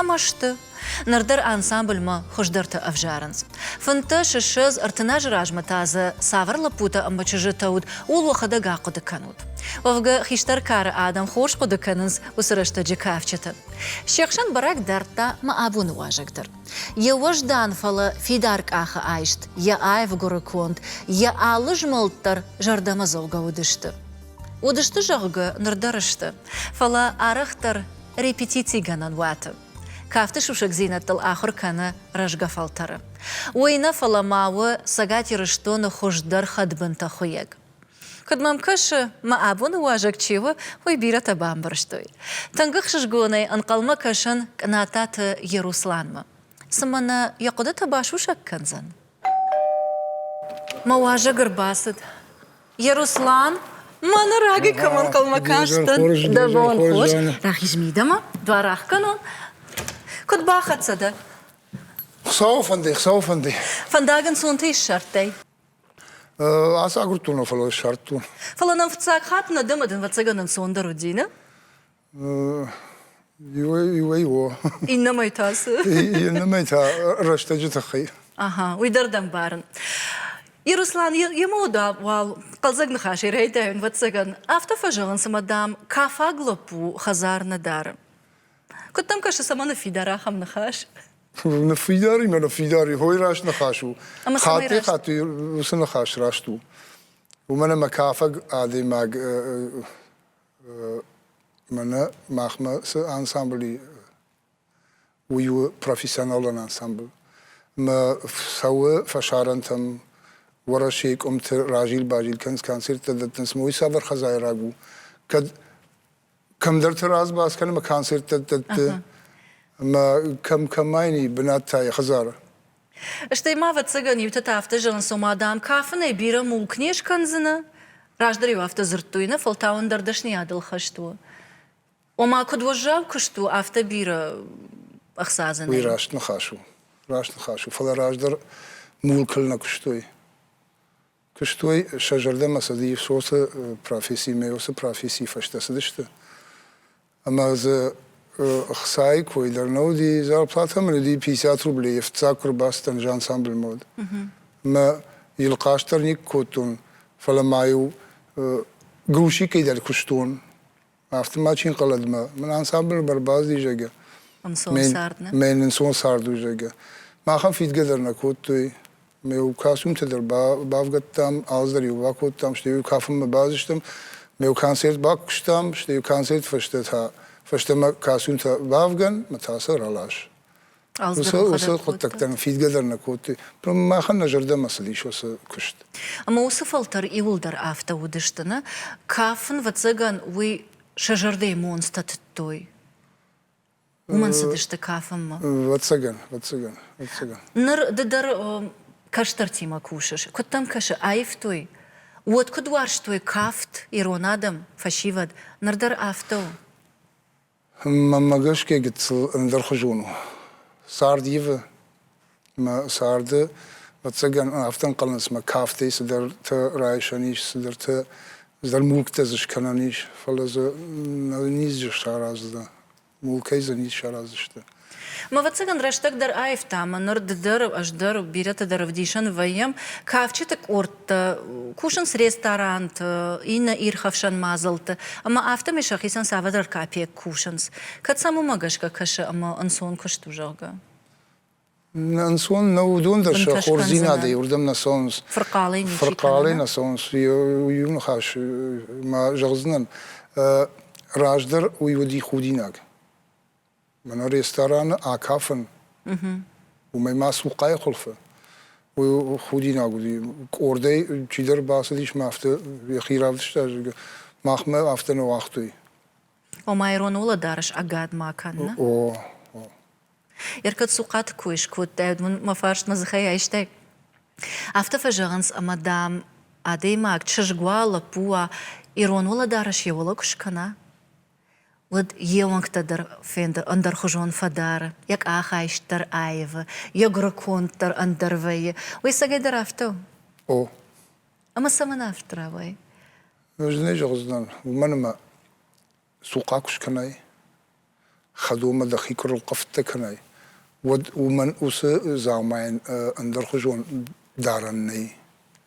ӕмӕ сты. Ныр дӕр ансамбльмӕ хуыздӕртӕ ӕвзарынц. Фынддӕс, ссӕдз, ӕртын азы размӕ та дзы цавӕр лӕппутӕ ӕмӕ чызджытӕ уыд, ууыл уӕхӕдӕг ахъуыды кӕнут. Уӕвгӕ, хистӕр кары адӕм хорз хъуыды кӕнынц уыцы рӕстӕджы кафджыты. Се хсӕн бӕрӕг дардта мӕ абоны уазӕг дӕр. Йӕ уӕздан, фӕлӕ фидар къахы айст, йӕ аив гуыры конд, йӕ алы змӕлд дӕр зӕрдӕмӕдзӕугӕ уыдысты. Уыдысты, зӕгъгӕ, ныр дӕр сты, фӕлӕ арӕхдӕр репетицигӕнӕн уаты. Кафты сусӕгдзинӕдтыл ахуыр кӕны рӕзгӕ фӕлтӕры. Уый нӕ, фӕлӕ ма у Цӕгат Ирыстоны хуыздӕр хӕдбынтӕ хуыйӕг. Куыд мӕм кӕсы, мӕ абоны уӕзӕг чи у, уый бирӕтӕ бамбӕрстой. Тынг ӕхсызгонӕй ӕнхъӕлмӕ кӕсын Кънататы Ерусланмӕ. Цымӕ нӕ йӕ хъуыдытӕ басусӕг кӕндзӕн? Мӕ уӕзӕг ӕрбацыд Еруслан, мӕнӕ раги кӕм ӕнхъӕлмӕ кастӕн, дӕ бон хорз, рахиз мидӕмӕ, дуар ахкӕнон. Куд бахӕццӕ дӕ? Хуцауы фӕндӕй, Хуцауы фӕндӕй. Фӕндаг ӕнцонтӕ иссардтай? Ацагурдтон, фӕлӕ ссардтон. Фӕлӕ нӕм фыццаг хатт нӕ дӕ мадӕн вӕццӕгӕн ӕнцондӕр уыди, нӕ? Иуӕй у. Иннӕмӕй та цы? Иннӕмӕй та рӕстӕджы тыххӕй. Аха, уый дӕр дӕм барын. Ируслан, йемӕ уал хъӕлдзӕг ныхасӕй райдайын, вӕццӕгӕн. Афтӕ фӕзӕгъын, цыма дӕм кафаг лӕппу хӕдзар нӕ дары. Куыд дӕм кӕсы, цӕмӕ ныффидар ахӕм ныхас? Ныффидаримӕ ныффидари хойы раст ныхас у. Хаттӕй-хатты уыцы ныхас раст у. Уымӕн ӕмӕ кафаг адӕймаг Мӕнӕ махмӕ цы ансамбль и, уый у профессионалон ансамбль. Мӕ цӕуы фӕсарӕнтӕм, Уӕрӕсейы къуымты разил-базил кӕнынц, концерттӕ дӕттынц, ӕмӕ уый цавӕр хазайраг у. Кӕд кӕмдӕрты раз бацъ кӕнӕм, ӕмӕ концерттӕ дӕтты, ӕмӕ кӕм-кӕмӕй бынат та йӕ хӕдзары. Стӕй ма, ӕвӕццӕгӕн, иутӕ та афтӕ зӕгъынц, ома, дам, кафынӕй бирӕ мулк не скӕндзынӕ. Раздӕр-иу афтӕ дзырдтой, нӕ, фӕлтау ӕндӕр дӕсныйадыл хӕст у. Ома, куыд уӕззау куыст у, афтӕ бирӕ ӕхца дзынӕ. Уый раст ныхас у. Раст ныхас у. Фӕлӕ раздӕр мулкыл нӕ куыстой. Куыстой сӕ зӕрдӕмӕ сӕ Иососы професси мӕ уыцы профессийы фӕстӕ цыдысты. Ӕмӕ дзы ӕхцайы кой дӕр нӕ уыди, зарплатӕ мын уыди пятьдесят рублей, йе фыццаг куы рбацыдтӕн жансамбльмӕ уыд. Мӕ йыл хъаст дӕр никуы кодтон, фӕлӕ ма-иу грузчикӕй дӕр куыстон. Афтӕ ма чи нхъӕлӕд-мӕ, мын ансамблы бар базди, зӕгӕ. Ӕнцон цард, нӕ? Мӕн ӕнцон цард у, зӕгӕ. Махӕн фидгӕ дӕр нӕ кодтой. Ме костюмтӕ дӕр бавгӕдтам, алцдӕр-иу бакодтам, стӕй-иу кафынмӕ базыстӕм. Ме концерт бакуыстам, стӕй-иу концерты фӕстӕ та, фӕстӕмӕ костюмтӕ бавгӕн, мӕ та сӕ ралас. уыцы хъуыддӕгтӕн фидгӕ дӕр нӕ кодтой. Махӕн нӕ зӕрдӕмӕ цыдис уыцы куыст. Ӕмӕ уыцы фӕлтӕр иуылдӕр афтӕ уыдысты, нӕ? Кафын, ӕвӕццӕгӕн, уый сӕ зӕрдӕйы монцтӕ тыдтой. Уымӕн цыдысты кафынмӕ. Ӕвӕццӕгӕн, ӕвӕццӕгӕн, ӕвӕццӕгӕн. Ныр ды дӕр кӕстӕртимӕ кусыс. Куыд дӕм кӕсы, аивтой? Уӕд куыд уарзтой кафт ирон адӕм, фӕсивӕд? Ныр дӕр афтӕ у? Мӕнмӕ гӕсгӕ гыццыл ӕндӕрхуызон у. Цард ивы, мӕ царды, ӕвӕццӕгӕн, афтӕ ӕнхъӕлынц, мӕ кафтӕй цыдӕртӕ райсӕн ис, цыдӕртӕ, цыдӕр мулктӕ дзы скӕнӕн ис, фӕлӕ дзы нӕ низ сараздзынӕ, мулкӕй дзы низ сараздзысты. Мӕ ӕвӕццӕгӕн рӕстӕг дӕр аивта ӕмӕ ныр ды дӕр, ӕз дӕр, бирӕтӕ дӕр ӕвдисӕн вӕййӕм кафджыты къордтӕ, кусынц ресторанты, иннӕ ирхӕфсӕн мадзалты, ӕмӕ афтӕмӕй сӕхицӕн цавӕрдӕр капекк кусынц. Кӕд сӕм уымӕ гӕсгӕ кӕсы ӕмӕ ӕнцон куыст у, зӕгъгӕ? Ӕнцон нӕу уыдон дӕр сӕ хорздзинадӕй уырдӕм нӕ цӕуынц. Фырхъалӕй ничи Фырхъалӕй нӕ цӕуынц. Иу ныхас ма зӕгъдзынӕн, раздӕр уый уыди худинаг. Мӕнӕ рестораны акафын, уымӕй ма цухъайы хуылфы худинаг уыди. Къордӕй чидӕр бацыдис мӕ афтӕ йӕхи равдыста, зӕгъгӕ, махмӕ афтӕ нӕ уагътой. Ома ирон уӕлӕдарӕс ӕгад ма кӕны? О, о. Ӕркӕд цухъаты кой скодтаид, уын мӕ фарст мӕ дзыхӕй айстай? Афтӕ фӕзӕгъынц, ӕмӕ, дам, адӕймаг, чызг уа, лӕппу уа, ирон уӕлӕдарӕс йӕ уӕлӕ куы скӕна. уыд йе уӕнгтӕ дӕр фенды ӕндӕрхуызон фӕдары, йӕ къахайст дӕр аивы, йӕ гуырыконд дӕр ӕндӕр вӕййы. Уый сагӕй дӕр афтӕ у? О. Ӕмӕ цӕмӕн афтӕ рауайы? Ӕз нӕ зӕгъдзынӕн, уымӕн ӕмӕ цухъа куы скӕнай, хӕдонмӕ дӕхи куы рылхъывтӕ кӕнай, уӕд уымӕн уыцы дзаумайӕн ӕндӕрхуызон дарӕн нӕй.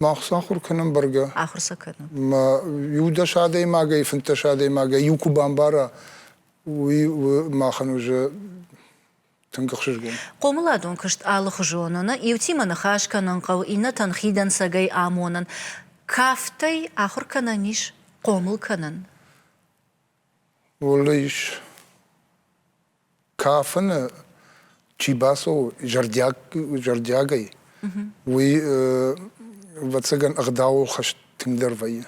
Мах цы ахуыр кӕнӕм бӕргӕ? Ахуыр сӕ кӕнӕм. Мӕ иу-дӕс адӕймагӕй, фынддӕс адӕймагӕй иу куы бамбара, уый махӕн уже тынг ӕхсызгон. Хъомыладон куыст алыхуызон у. Нӕ иутимӕ ныхас кӕнын хъӕуы, иннӕтӕн хидӕнцӕгӕй амонын. Кафтӕй ахуыр кӕнӕн ис? Хъомыл кӕнын? Уылы ис. Кафыны чи бацӕуы зӕрдиаг, зӕрдиагӕй, уый, ӕвӕццӕгӕн, ӕгъдауыл хӕст тынгдӕр вӕййы.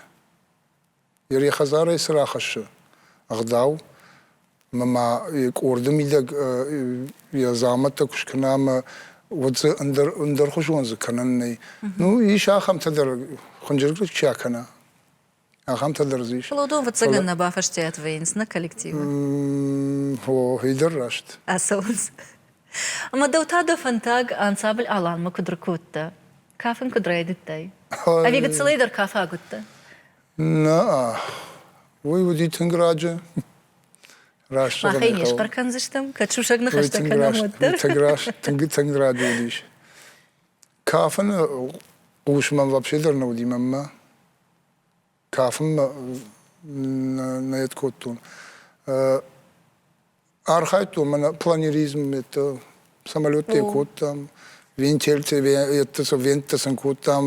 Йӕ хӕдзарӕй цы рахӕссы ӕгъдау, ӕмӕ ма йӕ къорды мидӕг йӕ дзамӕттӕ куы скӕна ӕмӕ уӕд дзы ӕндӕр, ӕндӕрхуызон дзы кӕнӕн нӕй. Ну, ис ахӕмтӕ дӕр, хынджылгӕ чи акӕна, ахӕмтӕ дӕр дзы ис. Плодон выццӕгӕн нӕ бафӕстиат вӕййынц нӕ коллективы? О, идӕр раст. Ацӕуынц. Ӕмӕ дӕу та дӕ фӕндаг ансамбль Алан-мӕ куыд ркодта? Кафын куыд райдыдтай? Ӕви гыццылӕй дӕр кафаг уыдтӕ? Нӕ, уый уыди тынг раджы. Раст Махӕй не схъӕр кӕндзыстӕм, кӕд сусӕг ныхӕстӕ кӕнӕм, уӕддӕр. Тынг раст, тынг, тынг раджы уыдис. Кафыны хъус мӕм вообще дӕр нӕ уыди мӕнмӕ. Кафынмӕ нӕ йед кодтон. Архайдтон мӕнӕ планеризммӕ, самолеттӕ кодтам, вентильтӕ, еттӕ сӕ венттӕ сын кодтам,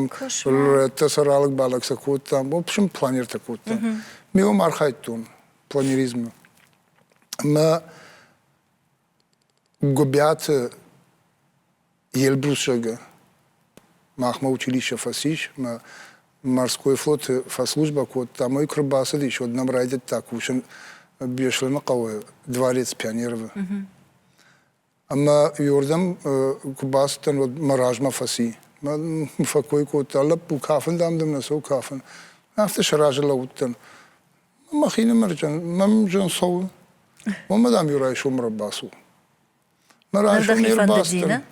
еттӕ сӕ ралыг-балыг сӕ кодтам. В общем, планертӕ кодтам. Ме уым архайдтон планеризмы. Мӕ Гуыбиаты Елбрусӕгы махмӕ училищӕ фӕцис, мӕ морской флоты фӕслужбӕ кодта, ӕмӕ куы рбацыдис, уӕд нӕм райдыдта кусын Беслӕны хъӕуы дворец Пионеров-ы. Ӕмӕ уырдӕм куы бацыдтӕн, уӕд мӕ размӕ фӕци. Мӕ фӕкой кодта, лӕппу, кафын, дам, дӕм нӕ цӕуы кафын. Афтӕ сӕ разы лӕууыдтӕн. Махинымӕрджан, мӕмджан цӕуы. Мамӕ, дам, иу райсом ӕрбацу. Мӕ райсом не рбацыдтӕн.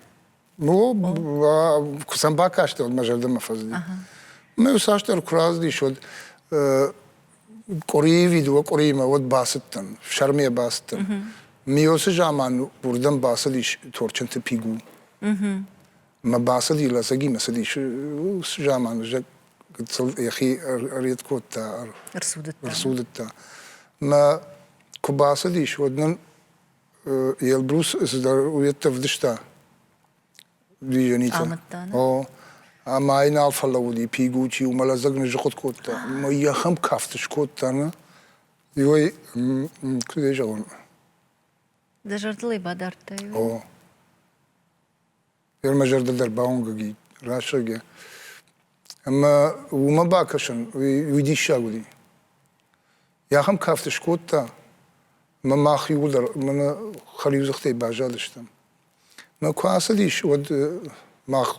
О, куы сӕм бакасти, уӕд мӕ зӕрдӕмӕ фӕзыди. Мӕ иуцасдӕр куы раздис, уӕд къуырийы видео къуыриимӕ уӕд бацыдтӕн, сӕрмӕ бацыдтӕн. Миосы заман уырдӕм бацыдис Торчынты Пигу. Мӕ бацыди лӕдзӕгимӕ, цыдис заманы, гыццыл йӕхи ӕред кодта, ӕрцудыдта. Мӕ куы бацыдис, уӕд нын Елбрус цыдӕр уедтӕ вдыста движенитӕ. О, ӕмӕ ӕй нал фӕлӕууыди пигучи, уымӕ лӕдзӕг ныззыхъуыд кодта. Мӕ йӕхӕм кафт скодта, нӕ? Иой, куыд ӕй зӕгъон? Дӕ зӕрдыл ӕй бадардтай? О. Фермӕ мӕ зӕрдӕ дӕр бауынгӕг и, рӕсугъд и. Ӕмӕ уымӕ бакӕсын, уый, уый диссаг уыди. Йӕ ахӕм кафт скодта, ӕмӕ мах иууылдӕр мӕнӕ хӕлиудзыхтӕй баззадыстӕм. Мӕ куы ацыдис, уӕд мах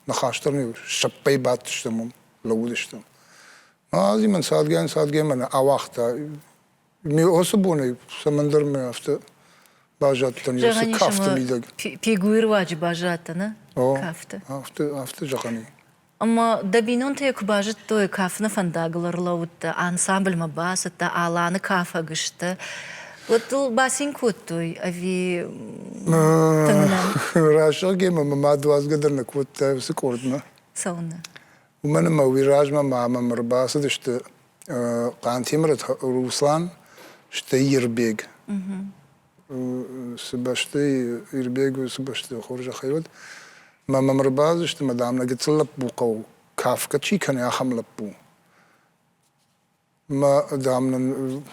ныхас дӕр не сӕппӕй бадтыстӕм уым, лӕууыдыстӕм. Мӕ адӕмӕн цадгӕ-цадгӕ мӕнӕ ауагъта Осы бонӕй цӕмӕндӕр мӕ афтӕ базадтӕн Есе кафты мидӕг. Пегуйы руаджы базадтӕ, нӕ? Кафты. Афтӕ, афтӕ зӕгъӕн и. Ӕмӕ дӕ бинонтӕ йӕ куы базыдтой, кафыны фӕндагыл ӕрлӕууыдтӕ, ансамбльмӕ бацыдтӕ, Аланы кафӕг сты. Уӕд дыл бацин кодтой ӕви тынг нӕ? Рӕсугъд гемӕ мӕ мад уадзгӕ дӕр нӕ кодта уыцы къордмӕ. Цӕуыны. Уымӕн ӕмӕ уый размӕ ма мӕм ӕрбацыдысты Хъантемырат Руслан, стӕй Ирбег. Цы бӕсты Ирбег цы бӕсты хорзӕхӕй уыд, мӕ мӕм ӕрбацыдысты, мадам, нӕ гыццыл лӕппу хъӕу, кафгӕ чи кӕны, ахӕм лӕппу. Мӕ, дам, нын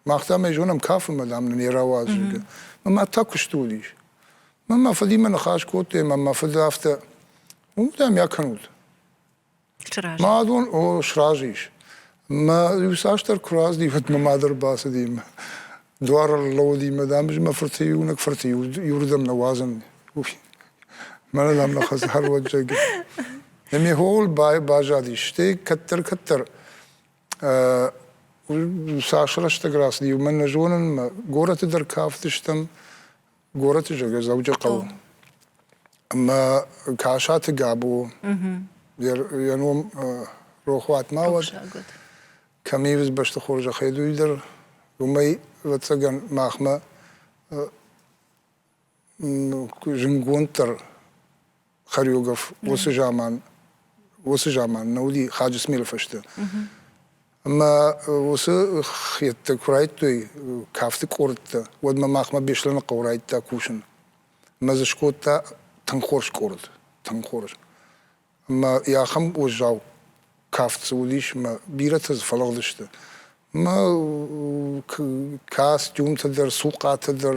мах, дам, ӕй зонӕм, кафынмӕ, дам, нын йӕ рауадзы. Мӕ та куысты уыдис. Мӕ мӕ фыдимӕ ныхас кодтой, мӕ мӕ фыд афтӕ, уым, дам, йӕ кӕнут. Сразы. Мӕ адон, о, сразы ис. Мӕ иуцасдӕр куы раздī, уӕд мӕ мад ӕрбацыди мӕ дуар ӕрлӕууыди мӕ, дам, ӕз мӕ фырты иунӕг фырты иуырдӕм нӕ уадзын. Мӕнӕ дам нӕ хӕрзгӕрвӕджджӕг. Ме хохыл базадис, стӕй кӕддӕр-кӕддӕр цас рӕстӕг рацыд, иумӕ нӕ зонын, мӕ горӕты дӕр кафтыстӕм. Горӕты зӕгӕ Дзӕуджыхъӕуы. Ӕмӕ Касаты Габо, йӕ ном рохуат ма уӕд, кӕм ивыс бӕсты хорзӕхӕй, уый дӕр, уымӕй, ӕвӕццӕгӕн, махмӕ зынгонддӕр хореограф уыцы заман уыцы заман нӕ уыди Хаджысмелы фӕстӕ. Ӕмӕ уыцы хеттӕ куы райдтой кафты къордтӕ, уӕд мӕ махмӕ Беслӕныхъӕу райдта кусын. Мӕ дзы скодта тынг хорз къорд, тынг хорз. мӕ ахӕм уӕззау кафт цы уыдис, мӕ бирӕтӕ дзы фӕлыгъдысты. Мӕ костюмтӕ дӕр, цухъатӕ дӕр,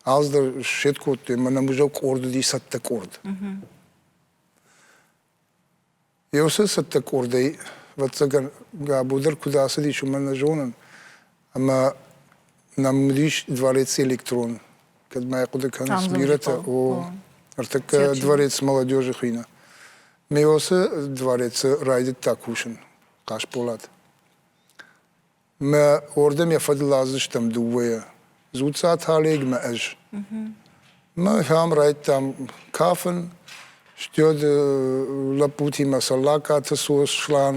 аз дӕр сфет кодтой, мӕнӕ музей къорд уыди цӕттӕ къорд. Еусе цӕттӕ къордӕй, ӕвӕццӕгӕн, Габо дӕр куыд ацыдис, уымӕн нӕ зонын. Ӕмӕ нӕм уыдис дворец электрон, кӕд ма хъуыды кӕныс, бирӕтӕ, о, ӕртӕккӕ дворец молодежи хуыйны. Меосы дворец райдыдта кусын, Хъасболат. Мӕ уордӕм йӕ фӕдыл лаздзыстӕм дыууӕйӕ, Дзуццаты Олег мӕ ӕз. Мӕ фӕм райдтам кафын, стӕд лӕппутимӕ Саллакаты Сослан,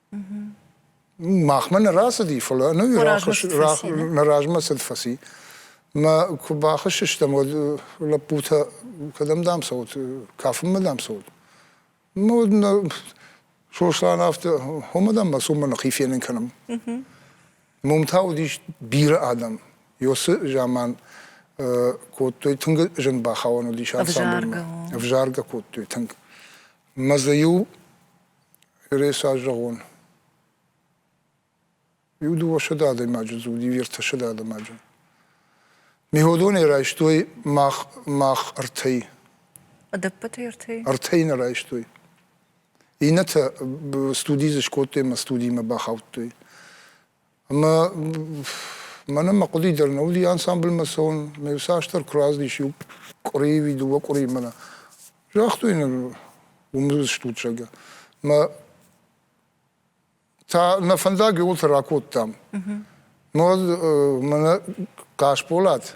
Махмӕ нӕ рацыди, фӕлӕ ӕнӕ нӕ размӕ цыд фӕци. Мӕ куы бахызт стӕм, уӕд лӕппутӕ кӕдӕм дам цӕут, кафынмӕ дам цӕут. Ну, Сослан афтӕ, хомӕ дам мӕ ныхи фенын кӕнӕм. Мом та уыдис бирӕ адӕм. Ёсы заман кодтой, тынг зын бахауӕн уыдис ансамбльмӕ. Ӕвзаргӕ кодтой тынг. Мӕ дзы иу Реса зӕгъон. Иу дыууӕсӕдӕ адӕймаджы дзы уыди, ертӕсӕдӕ адӕймаджы. Миходонӕй райстой мах, мах ӕртӕй. Ӕдӕппӕт ертӕй? Ӕртӕй нӕ райстой. Иннӕтӕ студи дзы скодтой ӕмӕ студимӕ бахаудтой. Ӕмӕ мӕнӕн мӕ хъуыди дӕр нӕ уыди ансамбльмӕ цӕуын, мӕ иуцасдӕр куы раздис иу къуырийы уи дыууӕ къуырийы мӕнӕ. Загътой нын уым стут, зӕгъгӕ. Мӕ та нӕ фӕндаг ууылты ракодтам. Мӕ хъасболат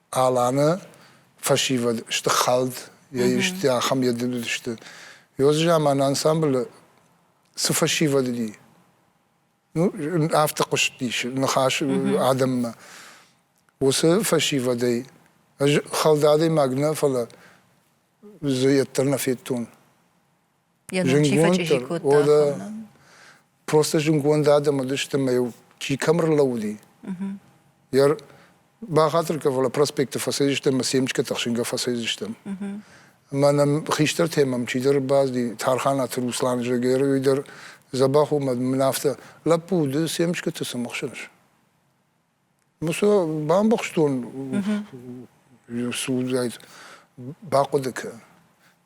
Аланы фӕсивӕд сты хӕлд, йӕ исты ахӕм йӕ дыд уыдысты. Ёзы заманы ансамблы цы фӕсивӕд уыди, ну, афтӕ хъуыстис ныхас адӕммӕ. Уыцы фӕсивӕдӕй ӕз хӕлд адӕймаг нӕ, фӕлӕ дзы йӕддӕр нӕ федтон. йӕ ном чи фӕчъизи кодта. Просто зынгонд адӕм уыдысты ӕмӕ йыл чи кӕм ӕрлӕууыди. Йӕ бахатыр кӕ, фӕлӕ проспекты фӕцӕйдзыстӕм ӕмӕ семечкӕты ӕхсынгӕ фӕцӕйдзыстӕм. Ӕмӕ нӕм хистӕртӕ мӕм чидӕр базди, Тарханаты Руслан, зӕгӕр, уый дӕр дзӕбӕх у, мӕ мын афтӕ, лӕппу, ды семечкӕты цы мыхсынс? Мусо бамбӕхстон судзаит бахъуыды кӕ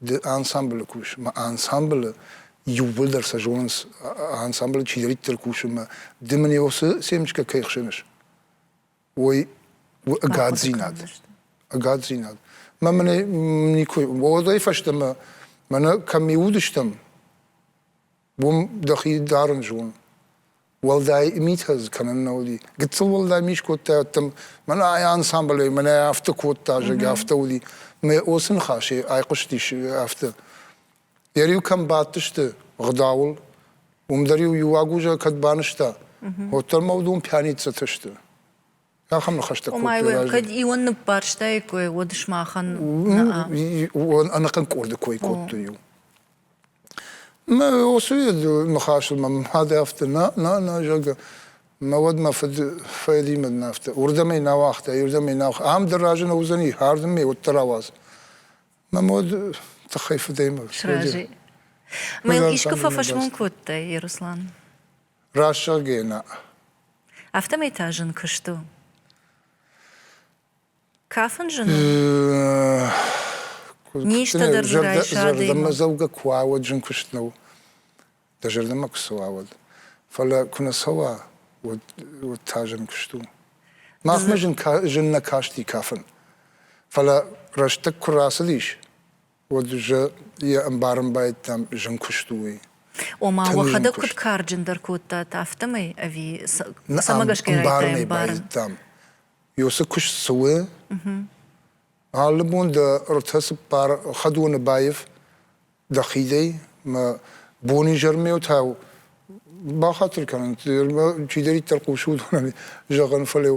ды ансамблы кусынмӕ ансамблы иууылдӕр сӕ зонынц ансамблы чидӕриддӕр кусынмӕ ды мын его семечка кӕй хсыныс ой ӕгаддзинад ӕгаддзинад мӕ мын никой уӕдӕй фӕстӕмӕ мӕнӕ кӕм ми уыдыстӕм уым дӕхи дарын зон. Уӕлдай митӕ дзы кӕнын нӕ уыди. Гыццыл уӕлдай ми скодта ӕддӕм, мӕнӕ ай ансамблӕй мӕнӕ афтӕ кодта, зӕгъгӕ, афтӕ уыди. Мӕ осы ныхасӕй айхъуыстис афтӕ. Йӕ риу кӕм бадтысты гъдауыл, уым дӕр-иу иу агузӕ кӕд банызта, уӕддӕр мӕ уыдон пьяницӕтӕ сты. Ахӕм ныхӕстӕ кодтой. Ома, кӕд ион ныббарстаиккой, уӕд сымахӕн ӕнӕхъӕн къорды кой кодтой-иу. Мӕ уыцы ныхасыл мӕм хъӕды афтӕ нӕ, нӕ, нӕ, зӕгъгӕ. Мӕ уӕд мӕ фыд фӕлимӕд нӕ афтӕ. Уырдӕм ӕй нӕ уагъта, уырдӕм ӕй нӕ уагъта. Ам дӕр разы нӕ уыдзӕни, хӕрдын ме уӕддӕр ауадз. Мӕм уӕд тыххӕй фыдӕй мӕ. Сразы. Мӕ искуы фӕфӕсмон кодтай, Еруслан? Раст зӕгъгӕ нӕ. Афтӕмӕй та зын куыст у. Кафын зын у. Низтӕ дӕр дзы райса Зӕрдӕмӕдзӕугӕ куы уа, уӕд зын куыст нӕу. Дӕ зӕрдӕмӕ куы цӕуа, уӕд. Фӕлӕ куы нӕ цӕуа, уӕд, уӕд та зын куыст у. Махмӕ зын, зын нӕ касти кафын. Фӕлӕ рӕстӕг куы рацыдис, уӕд зӕ йӕ ӕмбарынбайдтам зын куыст у, уый. Ома, уӕхӕдӕг куыд карджындӕр кодтат, афтӕмӕй ӕви цӕмӕ гӕсгӕ ӕмбарын? байдтам. Йо цы куыст цы у? Алы бон дӕ ртӕ цыппар хӕдоны баив дӕхидӕй, мӕ бонизӕрмӕутау бахатыр кӕнын, чидӕриддӕр хъусы уыдонӕн зӕгъын, фӕлӕ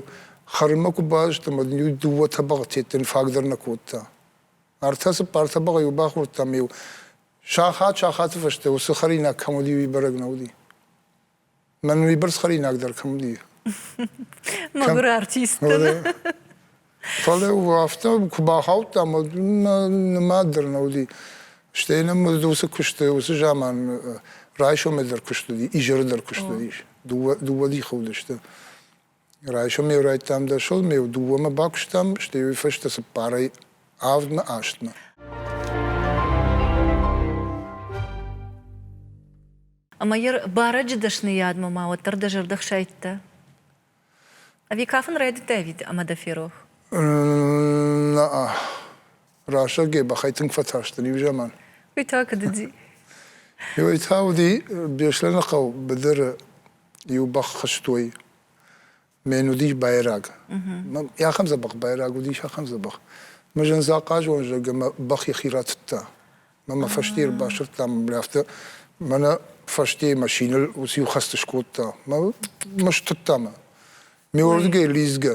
хӕрынмӕ куы баздӕм, уӕд дыууӕ тӕбӕгъ тедтын фаг дӕр нӕ кодта. ӕртӕ-цыппар тӕбӕгъы-иу бахордтам-иу сахат-сахаты фӕстӕ уыцы хӕринаг кӕм уыди, уый бӕрӕг нӕ уыди. Мӕн уыйбӕрц хӕринаг дӕр кӕм уыди. Мӕгуыр артисттӕ. Фӕлӕ афтӕ куы бахаудтам, уӕд нымад дӕр нӕ уыди. Стӕй нӕм уыцы куысты, уыцы заман райсомӕй дӕр куыст уыди, изӕры дӕр куыст уыдис. Дыууӕ дихы уыдысты. Райсом ме райдтам дӕсыл, ме дыууӕмӕ бакуыстам, стӕй уый фӕстӕ цыппарӕй авдмӕ астмӕ. Ӕмӕ йӕ барӕджы дӕсныйадмӕ ма уӕддӕр дӕ зӕрдӕ хсайдта? Ӕви кафын райдыдтай ӕви ӕмӕ дӕ ферох? Наа. Рӕсӕгӕй бӕхӕй тынг фӕтарстӕн иу заман. Уый та куыд уыди? Уый та уыди Беслӕны хъӕу быдыры иу бӕх хызтой. Мӕн уыдис байраг. Ахӕм дзӕбӕх байраг уыдис, ахӕм дзӕбӕх. Мы зын захъазон зӕг ӕмӕ бӕх йӕхи ратыдта. Мӕ мӕ фӕсте ӕрбасырдта мын афтӕ мӕнӕ фӕстейы машинӕ уыцы иу хӕцты скодта. Мӕ мӕ стыдта мӕ. Ме уырдыгӕй лидзгӕ.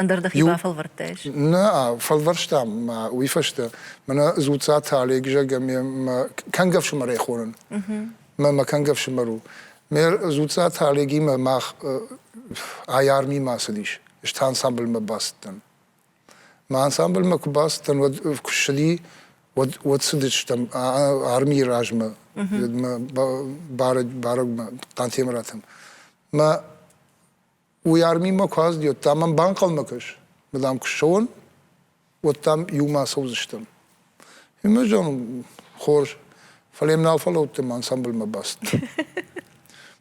Ӕндӕр дӕхи бафӕлвӕрдтаис? Нӕ, фӕлвӕрстам мӕ уый фӕстӕ. Мӕнӕ Дзуццаты Олег, зӕгъгӕ, ме кӕнгӕ ӕфсымӕрӕй хонын. Мӕ мӕ кӕнгӕ ӕфсымӕр у. Ме Дзуццаты Олегимӕ мах ай армимӕ ацыдис. Ӕз та ансамбльмӕ бацыдтӕн. Мӕ ансамбльмӕ куы бацыдтӕн, уӕд куы ссыди, уӕд уӕд цыдыстӕм армийы размӕ, мӕ бӕрӕг бӕрӕгмӕ Хъантемыратӕм. Мӕ Уый арминмӕ куы аздӕтта, мӕм банхъӕлмӕ кӕс, ма дам куы ссӕуон, уӕд дам иумӕ ацӕудзыстӕм. И мы зӕгъ, хорз, фӕлӕ йӕм нал фӕлӕудтӕн, мӕ ансамбльмӕ бацыд.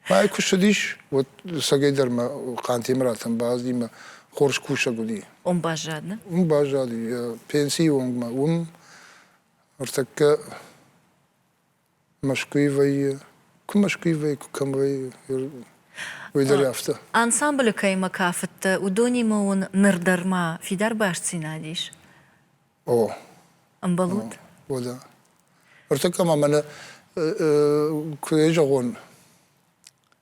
Мӕ куы ссыдис, уӕд сӕгӕйдӕр мӕ Хъантемыратӕн баазди, мӕ хорз кусӕг уыди. Уым баззадны? Уым баззади, йӕ пенсийы онг ма уым ӕртӕккӕ Мӕскуыйы вӕййы, куы Мӕскуыйы вӕййы, куы кӕм вӕййы, уый дӕр афтӕ. Ансамблы кӕимӕ кафыдтӕ, уыдонимӕ уын ныр дӕр ма фидар бастдзинад ис? О. Ӕмбӕлут? Уӕдӕ. Ӕртӕккӕ ма мӕнӕ куы зӕгъон,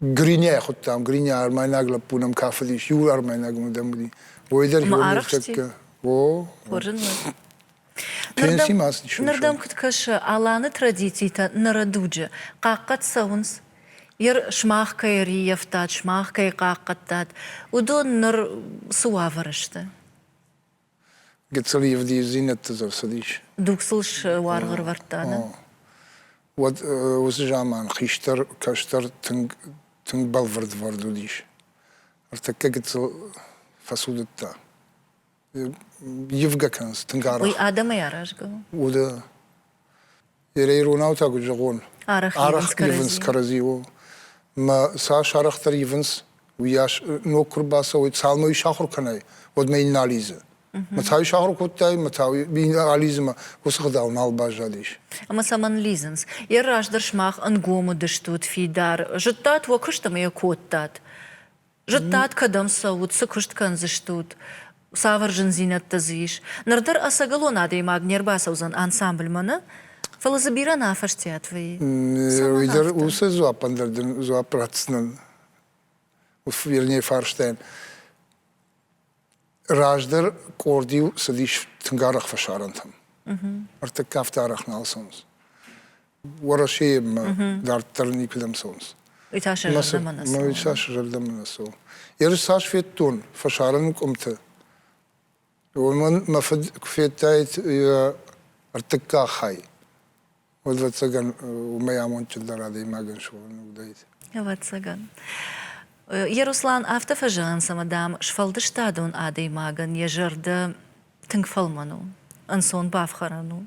Гринӕ хуыдтам, Гринӕ армайнаг лӕппу нӕм кафыдис, иу армайнаг мадам уыди. Уой дӕр Омӕ О, хорзын мын. Пенси ма цыдис. Ныр дӕм куыд кӕсы, Аланы традицитӕ ныры дуджы хъахъхъӕд цӕуынц? Ир сымах кӕй ӕрййӕфтат, сымах кӕй хъахъхъӕдтат, уыдон ныр цы уавӕры сты? Гыццыл ивдиздзинӕдты дзы рцыдис. Дуг сыл суаргъ ӕрӕвӕрдта, нӕ? Уӕд уыцы заман хистӕр кӕстӕр тынг, тынг бӕлвырдвӕрд уыдис. Ӕртӕккӕ гыццыл фӕцудыдта. Ивгӕ кӕнынц тынг арӕх. Уый адӕмӕй аразгӕ у? Уды. Перейронау та куыд зӕгъон? Арӕх ивынц кӕрӕдзиуыл. Мӕ цас арӕхдӕр ивынц, уыйас ног куы рбацӕуой, цалынмӕ ис ахуыр кӕнай, уӕдмӕ йын нӕ алидзы. Мӕ та ис ахуыр кодтай, мӕ та йын алидзы мӕ уыцы гъдау нал баззадис. Ӕмӕ цӕмӕн лидзынц? Йӕ раздӕр сымах ӕнгом уыдыстут фидар, зыдтат уӕ куыст ӕмӕ йӕ кодтат. Зыдтат, кӕдӕм цӕут, цы куыст кӕндзыстут, цавӕр зындзинӕдтӕ дзы ис. Ныр дӕр ӕцӕгӕлон адӕймаг не рбацӕудзӕн ансамбльмӕ нӕ, фӕлӕ дзы бирӕ нӕ афӕстиат вӕййы. Уый дӕр уыцы дзуаппӕн дӕр дын дзуапп ратдзынӕн. Вернее, фарстайӕн. Раздӕр къорд-иу цыдис тынг арӕх фӕсарӕнтӕм. Ӕртыккаг афтӕ арӕх нал цӕуынц. Уӕрӕсеимӕ дарддӕр никуыдӕм цӕуынц. Уый та сӕ зӕрдӕмӕ нӕ цӕуы. Уый та сӕ зӕрдӕмӕ нӕ цӕуы. Ерыс цас федтон фӕсарӕн къуымты, уымӕн мӕ фыд куы федтаид йӕ ӕртыккаг хай. Уӕд, ӕвӕццӕгӕн, уымӕй амондджындӕр адӕймагӕн суӕн уыдаид. Ӕвӕццӕгӕн. Еруслан афтӕ фӕзӕгъынц, ӕмӕ, дам, сфӕлдыстадон адӕймагӕн йӕ зӕрдӕ тынг фӕлмӕн у, ӕнцон бафхӕрӕн у.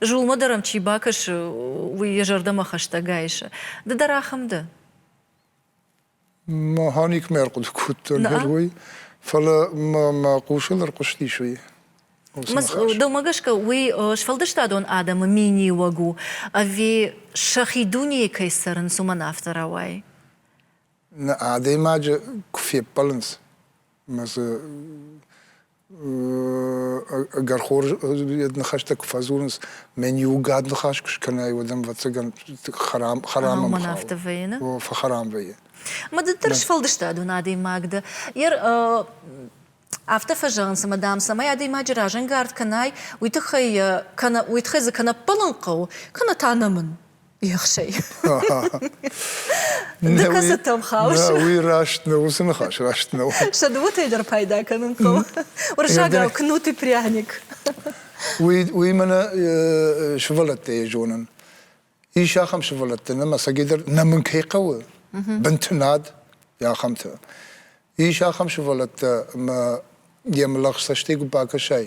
Зулмӕ дӕр ӕм чи бакӕсы, уый йӕ зӕрдӕмӕ хӕстӕг айсы. Ды дӕр ахӕм дӕ? Механик мӕ ӕрхъуыды кодта герой, фӕлӕ мӕ хъусӕн ӕрхъуыстис уый. Домӕ гӕсгӕ уый сфӕлдыстадон адӕмы миниуӕг у, ӕви сӕхи дунейы кӕй цӕрынц, уымӕн афтӕ рауайы? Нӕ адӕймаджы куы феппӕлынц, ӕмӕ дзы Ӕгӕр хорз ныхӕстӕ куы фӕдзурынц, мӕн иугӕд ныхас куы скӕнай, уӕд ӕм ӕвӕццӕгӕн хӕрам хӕрам Амон афтӕ вӕййы, нӕ? Фӕхӕрам вӕййы. Маддӕр сфӕлдыстадон адӕймаг дӕ. Йер афтӕ фӕзӕгъынц, ӕмӕ дам, цӕмӕй адӕймаджы разӕнгард кӕнай, уый тыххӕй кӕнӕ уый тыххӕй дзы кӕнӕ ппӕлын хъӕуы, кӕнӕ та нӕмын. ехсӕй кӕцытӕм хауыс уый раст нӕ уыцы ныхас раст нӕу сӕ дыууӕтӕй дӕр пайда кӕнын хъӕуы уырыссагау кнут и пряник уый уый мӕнӕ сывӕллӕттӕй зонын ис ахӕм сывӕллӕттӕ нӕма сӕгидӕр нӕ мын кӕй хъӕуы бынты над ахӕмтӕ ис ахӕм сывӕллӕттӕ ӕмӕ йе млӕгъз цӕстӕй куы бакӕсай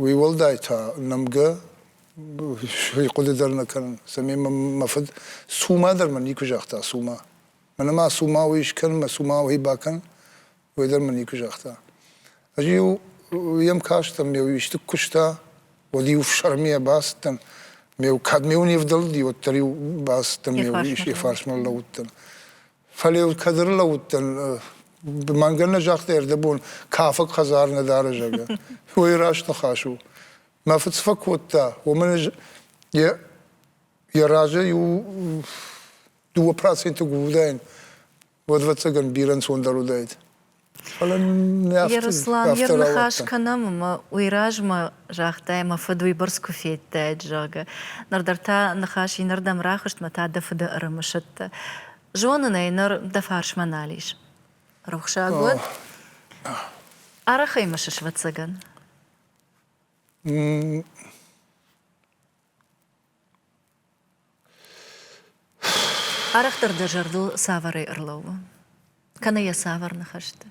Уый уӕлдай та нӕмгӕ сӕ хъуыды дӕр нӕ кӕнын, цӕмӕй мӕ фыд цума дӕр мӕ никуы загъта, цума. Мӕнӕ ма цума уый скӕн, мӕ цума уый бакӕн, уый дӕр мӕ никуы загъта. Ӕз-иу йӕм кастӕн, ме исты куы куыста, уӕд-иу фсӕрмийӕ бацыдтӕн, ме кӕд ме не вдӕлди, уӕддӕр-иу бацыдтӕн, ме иу фарсмӕ лӕууыдтӕн. Фӕлӕ йыл кӕд ӕрлӕууыдтӕн, мӕнгӕ нӕ загътай ӕрдӕбон, кафӕг хӕдзар нӕ дары, зӕгъгӕ. Уый раст ныхас у. Мӕ фыд цы фӕкодта, уымӕн йӕ, йӕ разӕй у дыууӕ проценты гуылдайӕн. Уӕд, ӕвӕццӕгӕн, бирӕ ӕнцондӕр уыдаид. Ярослан, йе рныхас кӕнӕм ӕмӕ уый размӕ загътай, мӕ фыд уыйбӕрц куы федтаид, зӕгъгӕ. Нырдӕр та ныхас иннӕрдӕм рахызт мӕ та дӕ фыды ӕрымысыдтӕ. Зонын ӕй, ныр дӕ фарсмӕ нал ис. Рухсаг уӕд. Арӕх ӕй мысыс, ӕвӕццӕгӕн? Арӕхдӕр дӕ зӕрдыл цавӕрӕй ӕрлӕууы? Кӕнӕ йӕ цавӕр ныхӕсты?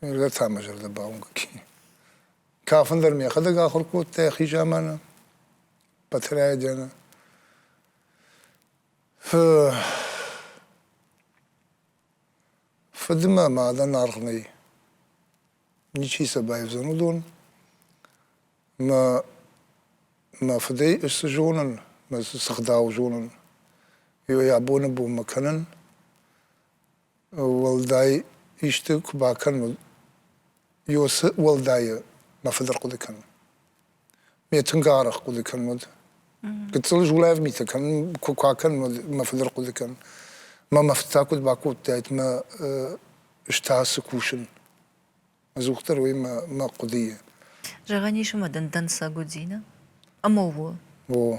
Мӕлӕт ӕмӕ зӕрдӕ бауынгӕ кӕнын. Кафын дӕр мӕхӕдӕг ахуыр кодта йӕхи заманы, Батырӕйы дены. Фыдмӕ мадӕн аргъ нӕй. Ничи сӕ байвдзӕн уыдон. Мӕ мӕ фыдӕй цы зонын, мӕ цы гъдау зонын, ой абоны бонмӕ кӕнын. Уӕлдай исты куы бакӕнон, ё цы уӕлдайы мӕ фыд ӕрхъуыды кӕны. Ме тынг арӕх хъуыды кӕн уӕд. Гыццыл зулӕф митӕ кӕнын куы кӕн, уӕд мӕ фылдӕр хъуыды кӕн. Мӕ мӕ фыццаг куыд бакодтаид мӕ ӕз та цы кусын? Ӕдзухдӕр уый мӕ мӕ хъуыдыйы. Зӕгъӕн ис ӕмӕ дын дӕнцӕг уыди, нӕ? Ӕмӕ у. О.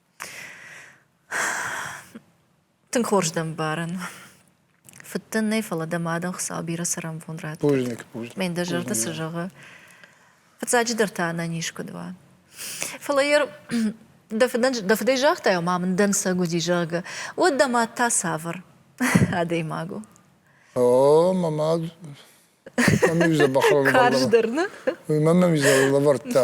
Тынг хорз дӕ мбарӕн. Фыдтӕн нӕй, фӕлӕ дӕ мадӕн Хуыцау бирӕ цӕрӕнбон радт. Бузныг, бузныг. Ме ндӕ зӕрдӕ цы зӕгъы. Фыццаджыдӕр та ӕнӕниз куыд уа. Фӕлӕ йӕ дӕ фыдӕн дӕ фыдӕй загътай, ма мын дӕнцӕг уыди, зӕгъгӕ, уӕд дӕ мад та цавӕр адӕймаг у? О, мӕ мад мӕм иу дзӕбӕх лӕвӕрдта. Карздӕр, нӕ? Уый мӕм ӕм изӕр лӕвӕрдта.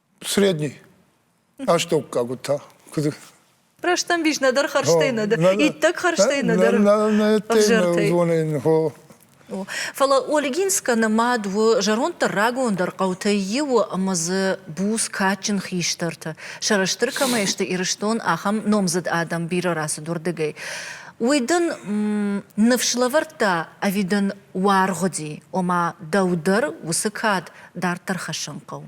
Средний. Астӕуккаг уыд та. Куыд Рӕстӕмбис нӕдӕр хӕрзтӕй нӕдӕр. Иттӕг хӕрзтӕй нӕдӕр. Зонын, хо. Фӕлӕ Ольгинскӕ мад у зӕронддӕр рагондӕр хъӕутӕй иу ӕмӕ дзы буц кадджын хистӕртӕ, сӕрыстыр кӕмӕй сты Ирыстон, ахӕм номдзыд адӕм бирӕ рацыд уырдыгӕй. Уый дын ныфс лӕвӕрдта ӕви дын уаргъ уыди, ома дӕу дӕр уыцы кад дарддӕр хӕссын хъӕуы?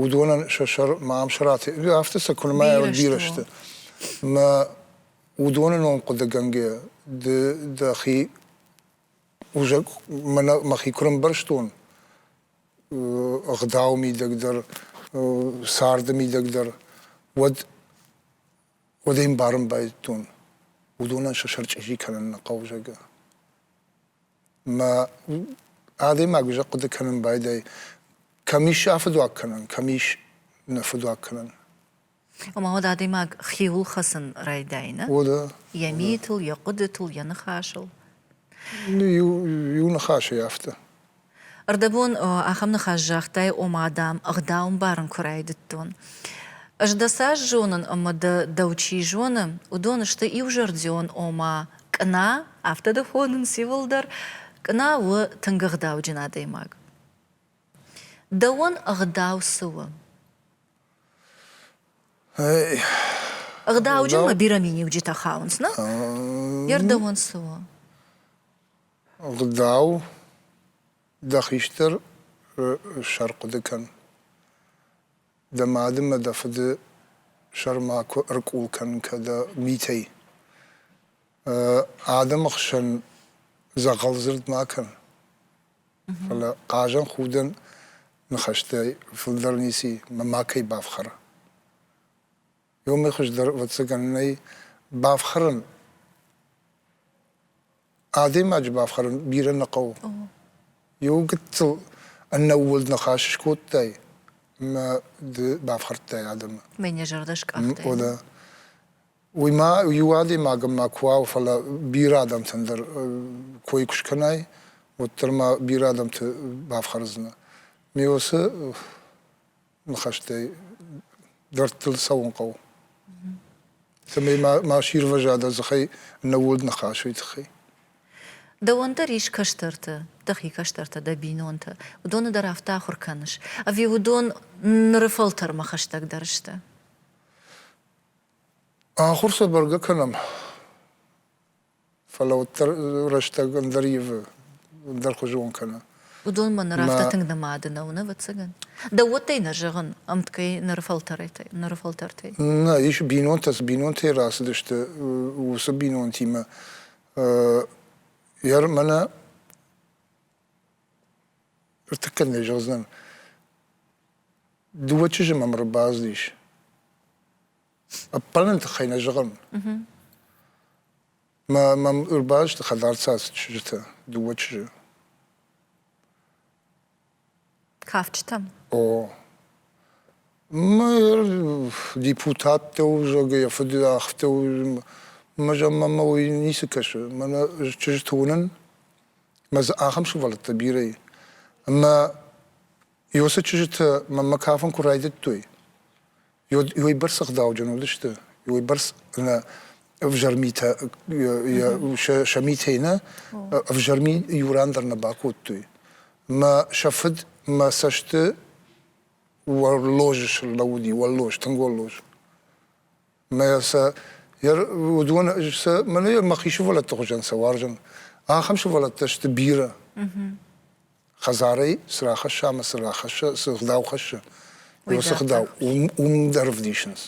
уыдонӕн сӕ сӕр ма ам сӕ рати... афтӕ сӕ куынмӕ ӕрбирӕ сты. Мӕ уыдоны ном хъуыдыгӕнгӕ ды дӕхи узӕг мӕхи куы рӕмбӕрстон, ӕгъдау мидӕг дӕр, царды мидӕг дӕр, уӕд уӕд ӕй ӕмбарын байдыдтон, уыдонӕн сӕ сӕр чъизи кӕнын нӕ хъӕуы, зӕгъгӕ. мӕ адӕймаг уый хъуыды кӕнын байдайы, кӕм ис сӕ фыдуаг кӕнӕн, кӕм ис нӕ фыдуаг кӕнӕн. Ӕмӕ уӕд адӕймаг хиуыл хӕцын райдайы, нӕ? О, да. Йӕ митыл, йӕ хъуыдытыл, йӕ ныхасыл. Иу, иу ныхасӕй афтӕ. Ӕрдӕбон ахӕм ныхас загътай, ома, дам, ӕгъдаумбарын куы райдыдтон. Ӕз дӕ цас зонын ӕмӕ дӕ дӕу чи зоны, уыдон сты иузӕрдион, ома, Къна, афтӕ дӕ хонын циуылдӕр, Къна у тынг ӕгъдауджын адӕймаг. Дӕуӕн ӕгъдау цы у? Ӕгъдауджын мӕ бирӕ миниуджытӕ хауынц, нӕ? Йе рдӕуӕн цы у? Ӕгъдау дӕ хистӕр сӕрхъуыды кӕн. дӕ мады мӕ дӕ фыды сӕрма куы ӕркъул кӕн кӕдӕ митӕй. Адӕмы хсӕн дзӕгъӕлдзырд ма кӕн. Фӕлӕ хъазӕн худӕн ныхӕстӕй фылдӕр ницы, мӕ макӕй бафхӕр. Ёмӕ хуыздӕр, ӕвӕццӕгӕн, нӕй бафхӕрын. Адӕймаджы бафхӕрын бирӕ нӕ хъӕуы. Иу гыццыл ӕнӕууылд ныхас скодтай, ӕмӕ ды бафхӕрдтай адӕмы. Мӕ не зӕрдӕ скъахтай. О, да. Уый ма иу адӕймагӕн ма куы уа, фӕлӕ бирӕ адӕмтӕн дӕр кой куы скӕнай, уӕддӕр ма бирӕ адӕмты бафхӕрдзынӕ. Ме усы ныхӕстӕй дӕрдтыл цӕуын хъӕуы. Цӕмӕй ма сирвӕза дзыхӕй нӕуӕд ныхасӕй тыххӕй. Дӕуӕн дӕр ис кӕстӕрты, дӕхи кӕстӕртӕ дӕ бинонтӕ, уыдоны дӕр афтӕ ахуыр кӕныс, ӕви уыдон ныры фӕлтӕрмӕ хӕстӕгдӕр сты? Ахуыр сӕ бӕргӕ кӕнӕм. Фӕлӕ уӕддӕр рӕстӕг ӕндӕр ивы, ӕндӕрхуызон кӕны. Уыдонмӕ ныр афтӕ тынг нымады нӕу, нӕ ӕвӕццӕгӕн? Дӕу уодтай нӕ зӕгъын, ӕмткӕй ныры фӕлтӕрӕтӕй, ныры фӕлтӕртӕй? Нӕ, ис бинонтӕ, цы бинонтӕй рацыдысты, уыцы бинонтимӕ. Ер мӕнӕ ӕртыккӕ нӕ зӕгъдзынӕн. Дыууӕ чызджы мӕм ӕрбацыдис. Ӕппӕлыны тыххӕй нӕ зӕгъын. Мӕм ӕрбаласты хӕдӕрцацыд чызджытӕ, дыууӕ чызджы. Кафджытӕм? О. Мӕ депутаттӕ у, зӕгъгӕ, йӕ фыды ӕхтӕ у. Мӕ зӕнмӕ мӕ уый ницы кӕсы. Мӕнӕ чызджытӕ уынын. Мӕ дзы ахӕм сывӕллӕттӕ бирӕ и. Ӕмӕ Иосы чызджытӕ мӕнмӕ кафын куы райдыдтой, уыйбӕрц ӕгъдауджын уыдысты, уыйбӕрц нӕ ӕвзӕр митӕ, сӕ митӕй нӕ ӕвзӕр ми иу ран дӕр нӕ бакодтой. Мӕ сӕ фыд мӕ цӕсты уӕллоз слӕууыди, уӕллоз, тынг уӕллоз. Мӕ сӕ уыдон сӕ мӕн мӕхи сывӕллӕтты хуызӕн сӕ уарзын. Ахӕм сывӕллӕттӕ сты бирӕ. Хӕдзарӕй цы рахӕсса ӕмӕ цы рахӕсса, цы гъдау хӕссы, уыцы гъдау уым дӕр ӕвдисынц.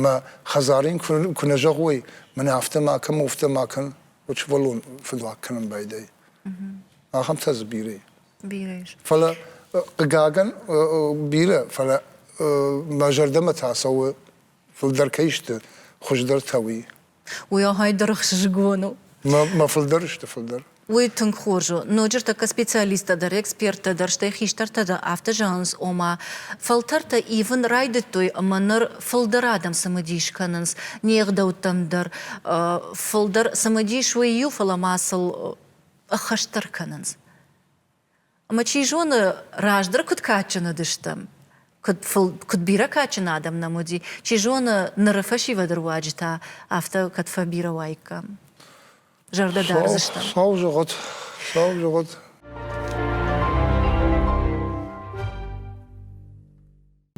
Мӕ хӕдзарӕн куы нӕ зӕгъой, мӕн афтӕ ма кӕн, афтӕ ма кӕн, уыд сывӕллон фыдуаг кӕнын байдайы. Ахӕмтӕ дзы бирӕ. Бирӕ ис. Фӕлӕ, хъыгагӕн, бирӕ, фӕлӕ мӕ зӕрдӕмӕ та цӕуы, фылдӕр кӕй сты, хуыздӕртӕ, уый. Уый ахӕй дыргъ сызгон у. Мӕ фылдӕр сты фылдӕр. Уый тынг хорз у. Ноджы ӕртӕккӕ специалисттӕ дӕр, эксперттӕ дӕр, стӕй хистӕртӕ дӕр афтӕ зӕгъынц, ома, фӕлтӕртӕ ивын райдыдтой ӕмӕ ныр фылдӕр адӕм цымыдис кӕнынц не гъдӕуттӕм дӕр. Фылдӕр цымыдис уый иу, фӕлӕ ма сыл ӕххӕстдӕр кӕнынц. Ӕмӕ чи зоны, раздӕр куыд кадджын уыдыстӕм, куыд, куыд бирӕ кадджын адӕм нӕм уыди, чи зоны, ныры фӕсивӕды руаджы та афтӕ кӕд фӕбирӕ уаиккам, зӕрдӕ дардзыстӕм. Сау зӕгъӕд, сау зӕгъӕд.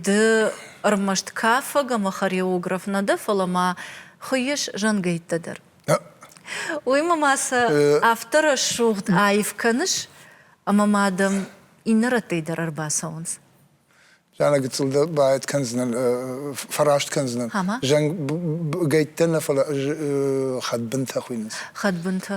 Ды ӕрмӕст кафӕг ӕмӕ хореограф нӕ дӕ, фӕлӕ ма хуыйыс зӕнгӕйттӕ дӕр. Уыимӕ ма сӕ афтӕ рӕсугъд аив кӕныс, ӕмӕ ма дӕм иннӕ рӕттӕй дӕр ӕрбацӕуынц. Зӕнӕ гыццыл дӕ баӕт кӕндзынӕн, фӕраст кӕндзынӕн. Зӕнгӕйттӕ нӕ, фӕлӕ хӕдбынтӕ хуыйнынц. Хӕдбынтӕ.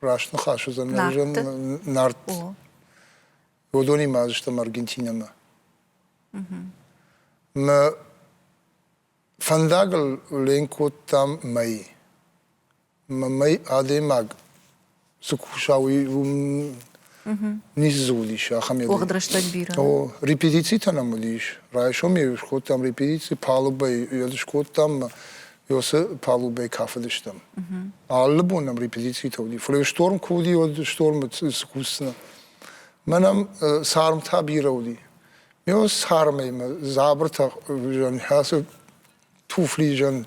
раст ныхас уыдзӕн уыдзӕн нарт уыдонимӕ уыдыстӕм аргентинӕмӕ мӕ фӕндагыл ленк кодтам мӕй мӕ мӕй адӕймаг цы куса уый Низзулис ахӕм еду. Уӕгъд рӕстӕг бирӕ. О, репетицитӕ нӕм уыдис. Райсомӕй скодтам репетици, палубӕй йӕ скодтам, ӕмӕ цы палубӕй кафыдыстӕм. Алы бон нӕм репетицитӕ уыди. Фӕлӕ шторм куы уыди, уӕд штормы скусдзынӕ. Мӕнӕм цармтӕ бирӕ уыди. Ме цармӕй мӕ дзабыртӕ хызӕн, ацы туфли зӕн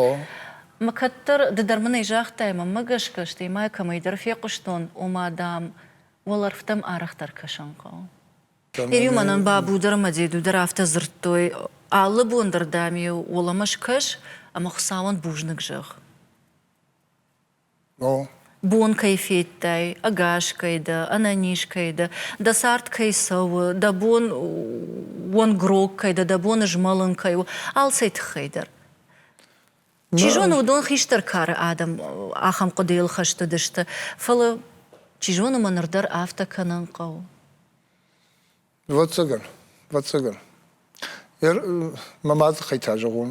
О. Мӕ кӕддӕр ды дӕр мын ӕй загътай, мӕнмӕ гӕсгӕ, стӕй ма йӕ кӕмӕйдӕр фехъуыстон, ома, дам, уӕлӕрвтӕм арӕхдӕр кӕсын хъӕуы. Терю мӕнӕн Бабу дӕр ӕмӕ Деду дӕр афтӕ дзырдтой, алы бон дӕр дӕм-иу уӕлӕмӕ скӕс ӕмӕ Хуыцауӕн бузныг зӕгъ. Бон кӕй федтай, ӕгас кӕй дӕ, ӕнӕниз кӕй дӕ, дӕ цард кӕй цӕуы, дӕ бон уонгрог кӕй дӕ, дӕ бон змӕлын кӕй у, алцӕй тыххӕй дӕр. Чи зоны, уыдон хистӕр кары адӕм ахӕм хъуыдыйыл хӕст уыдысты, фӕлӕ, чи зоны, ма ныр дӕр афтӕ кӕнын хъӕуы. Ӕвӕццӕгӕн, ӕвӕццӕгӕн. Мӕ мады хай та зӕгъон.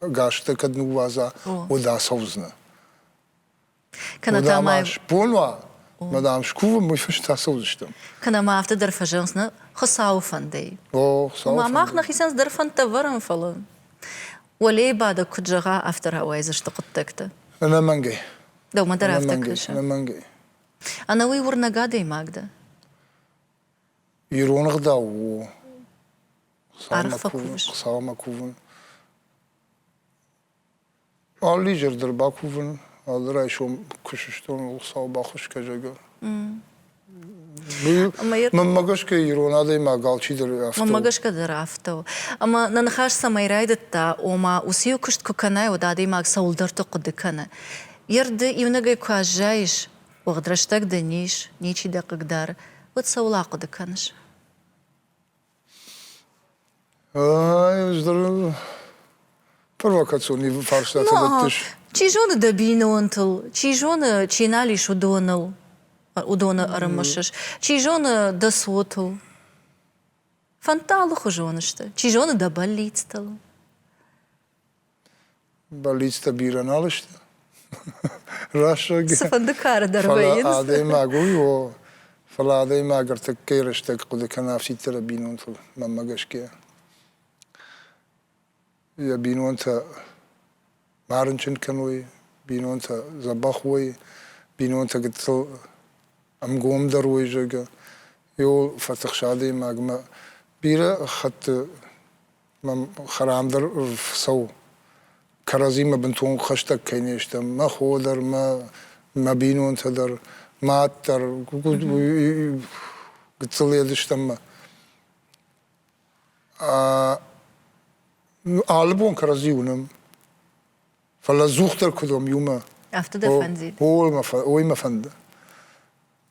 гӕстӕ кӕд ныууадза, уӕд ацӕудзынӕ. Кӕнӕ та ма бон уа, мӕ дам, скувын, мы фыст ацӕудзыстӕм. Кӕнӕ ма афтӕ дӕр фӕзӕгъынц, нӕ Хуыцауы фӕндӕй. О, Хуыцауы фӕндӕй. Мах нӕхицӕн цыдӕр фӕндтӕ ӕвӕрӕм, фӕлӕ уӕлейы бадӕг куыд зӕгъа, афтӕ рауайдзысты хъуыддӕгтӕ. Ӕнӕмӕнгӕй. Дӕумӕ дӕр афтӕ кӕсы? Ӕнӕмӕнгӕй. Ӕнӕуый уырнӕг адӕймаг дӕ? Ирон ӕгъдау у Арфӕ кувыс? Хуыцаумӕ кувын. Алы изӕр дӕр бакувын, алы райсом куы сыстон, Хуыцау бахуысгӕ, зӕгъгӕ. Мӕнмӕ гӕсгӕ ирон адӕймаг алчидӕр афтӕ Мӕнмӕ гӕсгӕ дӕр афтӕ у. Ӕмӕ нӕ ныхас цӕмӕй райдыдта, ома уыцы-иу куыст куы кӕнай, уӕд адӕймаг цӕуылдӕрты хъуыды кӕны. Йе рды иунӕгӕй куы аззайыс, уӕгъд рӕстӕг дын ис, ничи дӕ хъыгдары, уӕд цӕуыл ахъуыды кӕныс? Провокацион фарстатӕ дӕттыс? Чи зоны дӕ бинонтыл, чи зоны, чи нал ис уыдоныл, уыдоны ӕрымысыс, чи зоны дӕ цотыл. Фӕндты алыхуызон сты. Чи зоны дӕ бӕллицтыл. Бӕллицтӕ бирӕ нал сты. Рӕсугъд. Цыфӕнды кары дӕр вӕййынц. Фӕлӕ адӕймаг у, о, фӕлӕ адӕймаг ӕртӕккӕйы рӕстӕг хъуыды кӕны афтиддӕры бинонтыл, мӕнмӕ гӕсгӕ. Йӕ бинонтӕ ма рынчын кӕной, бинонтӕ дзӕбӕх уой, бинонтӕ гыццыл ӕмгомдӕр уой, зӕгъгӕ, йыл фӕтыхсы адӕймагмӕ. Бирӕ хатты Мӕм хӕрам дӕр фӕцӕуы. Кӕрӕдзимӕ бынтон хӕстӕг кӕй не стӕм, мӕ хо дӕр, мӕ, мӕ бинонтӕ дӕр, мад дӕр, гыццыл Едыстӕммӕ. Алы бон кӕрӕдзи уынӕм. Фӕлӕ ӕдзухдӕр куыд уӕм иумӕ? Афтӕ дӕ фӕндид? Ой мӕ фӕнды.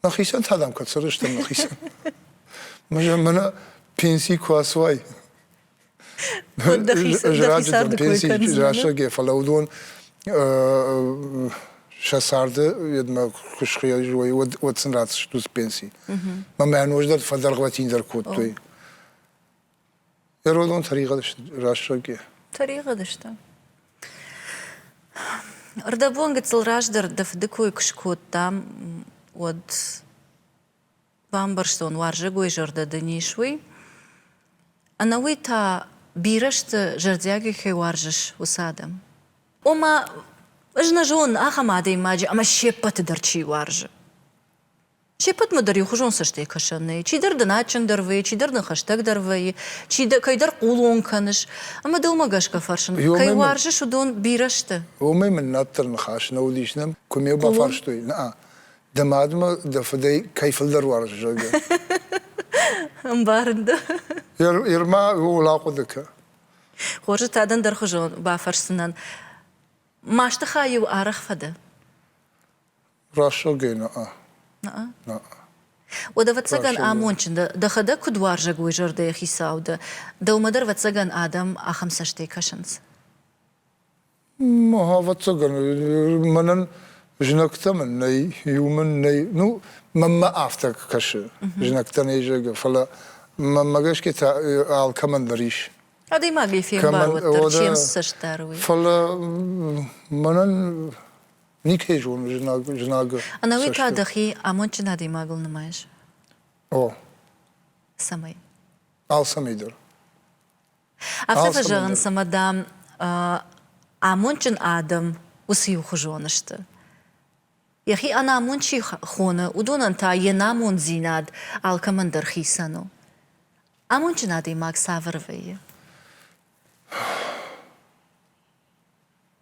Мӕхицӕн та дӕм куыд сырӕзтӕн мӕхицӕн? Мӕнӕ пенсий куы ацуай, Ызраджы пенсий рӕсӕг, фӕлӕ уыдон сӕ царды йедмӕ куы схъиой, уӕд сын ратдзыстут пенси. Мӕ нож дӕр фӕдӕргъвӕтиндӕр кодтой. Ирон тӕригъӕд рӕсугъд и. Тӕригъӕд сты? Ӕрдӕбон гыццыл раздӕр дӕ фыды кой куы скодтам, уӕд бамбӕрстон, уарзӕгой зӕрдӕ дын ис, уый. Ӕнӕуый та бирӕ сты, зӕрдиагӕй кӕй уарзыс, уыцы адӕм. Ома, ӕз нӕ зонын ахӕм адӕймаджы, ӕмӕ се ппӕты дӕр чи уарзы. Се ппӕтмӕ дӕр иухуызон цӕстӕй кӕсӕн нӕй. Чидӕр дын адджындӕр вӕййы, чидӕр дын хӕстӕгдӕр вӕййы, чи дӕ, кӕйдӕр хъулон кӕныс. Ӕмӕ дӕумӕ гӕсгӕ фӕрсын, кӕй уарзыс уыдон бирӕ сты? Омӕ мын нӕддӕр ныхас нӕ уыдис, нӕм куы ме бафарстой, нӕ, дӕ мадмӕ дӕ фыдӕй кӕй фылдӕр уарзыс, зӕгъгӕ. Ӕмбарын дӕ. Ирмӕ ууыл ахъуыды кӕ. Хорзы та дӕн дӕрхуызон бафӕрсдзынӕн. Масты хай-иу арӕх фӕдӕ? Рӕсугӕй нӕ. Уӕд, ӕвӕццӕгӕн, амондджын дӕ, дӕхӕдӕг куыд уарзӕг уой зӕрдӕйы хицау дӕ. Дӕумӕ дӕр, ӕвӕццӕгӕн, адӕм ахӕм цӕстӕй кӕсынц? Ӕвӕццӕгӕн, мӕнӕн знӕгтӕ мын нӕй, иу мын нӕй. Ну, мӕнмӕ афтӕ кӕсы, знӕгтӕ нӕй, зӕгъгӕ, фӕлӕ мӕнмӕ гӕсгӕ та алкӕмӕн дӕр ис. Адӕймагӕй фембар уӕддӕр, се мцӕст дӕр уый. Фӕлӕ мӕнӕн Никӕй зоны знаг, знагы. Ӕнӕуый та дӕхи амондджын адӕймагыл нымайыс? О. Цӕмӕй? Алцӕмӕй дӕр. Афтӕ фӕзӕгъынц, ӕмӕ, дам, амондджын адӕм уыцы иухуызон сты. Йӕхи ӕнамонд чи хоны, уыдонӕн та йе намонддзинад алкӕмӕн дӕр хицӕн у. Амондджын адӕймаг цавӕр вӕййы?